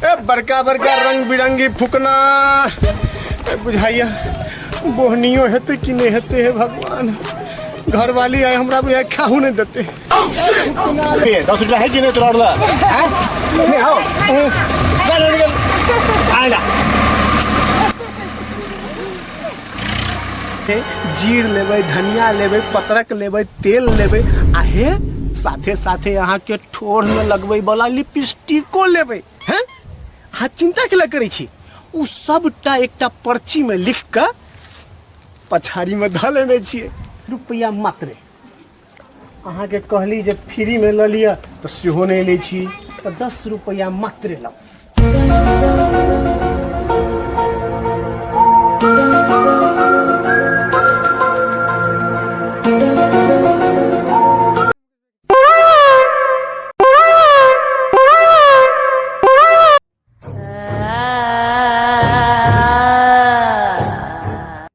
ए बड़का बड़का रंग बिरंगी फुकना ए बुझाइया बोहनियो हेतै कि नहि हेतै हे भगवान घरवाली आइ हमरा बुझाइ खाहू नहि देतै फुकना रे दस रुपया है कि नहि तोरा लग हैं नहीं हो चल निकल आइला जीर लेबै धनिया लेबै पत्रक लेबै तेल लेबै आ हे साथे साथे अहाँके ठोर में लगबै वाला लिपस्टिको लेबै हैं अहाँ चिंता के करै छी ओ सबटा एकटा पर्ची में लिख कऽ पछाड़ी में धऽ लेने छियै रुपैआ मात्रे अहाँके कहली जे फ्रीमे लऽ लिअ तऽ सेहो नहि लै छी तऽ दस रुपैआ मात्र लऽ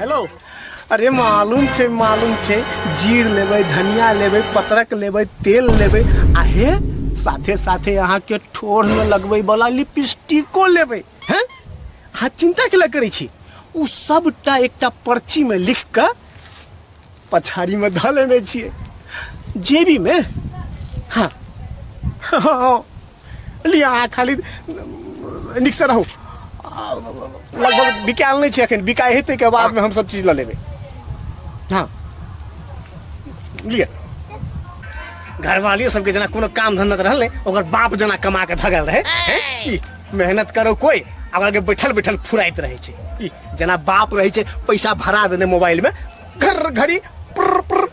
हेलो अरे मालूम छै मालूम छै जीर लेबै धनिया लेबै पत्रक लेबै तेल लेबै आ हे साथे साथे अहाँके ठोर में लगबै वाला लिपस्टिको लेबै हैं अहाँ चिंता के लए करै छी ओ सबटा एकटा पर्ची में लिख कऽ पछाड़ी में धऽ लेने छियै जेबी में हाँ हाँ लिअ अहाँ खाली नीकसँ रहू आ, लगभग बिकायल नहि छै एखन बिकाय हेतै के बादमे हम सब चीज लऽ लेबै हँ लिअ घरवालियो सबके जेना कोनो काम धंधा तऽ रहल नहि ओकर बाप जेना कमा के धगल रहे हैं? ई, मेहनत करो कोई आ ओकरा के बैठल बैठल फुराइत रहे छै ई, जेना बाप रहे छै पैसा भरा देने मोबाइल में घर घड़ी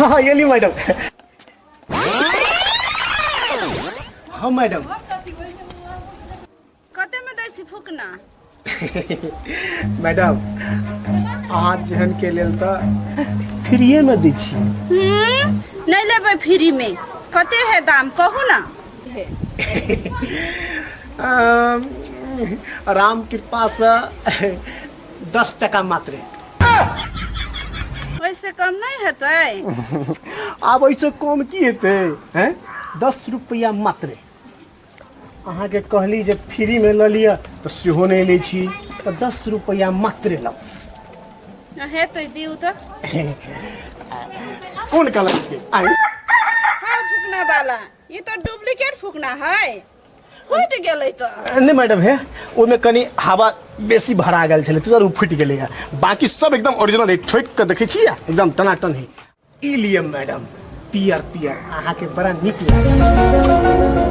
हाँ ये ली मैडम हाँ मैडम कते में दै छी फुकना मैडम अहाँ जेहन के लेल तऽ फ्रीए में दै छी हम्म, नहीं लेबै फ्री में कते है दाम कहू ना अम, राम कृपा से दस टका मात्रे ओहिसँ कम नहि हेतै आब ओहिसँ कम की हेतै हैं दस रुपैआ मात्रे अहाँके कहली जे फ्रीमे लऽ लिअ तऽ सेहो नहि लै छी तऽ दस रुपैआ मात्रे लऽ आ हेतै दियौ तऽ कोन कलरके आइ हँ फुकना वाला ई तो डुप्लीकेट फुकना है फुटि गेलै तऽ नहि मैडम हे ओहिमे कनि हवा बेसी भरा गेल छलै ताहि दुआरे ओ फुटि गेलै है बाकी सब एकदम ओरिजिनल है ठोकि कऽ देखै छियै एकदम टनाटन है ई लिए मैडम पियर पियर अहाँके बड़ा नीक लागल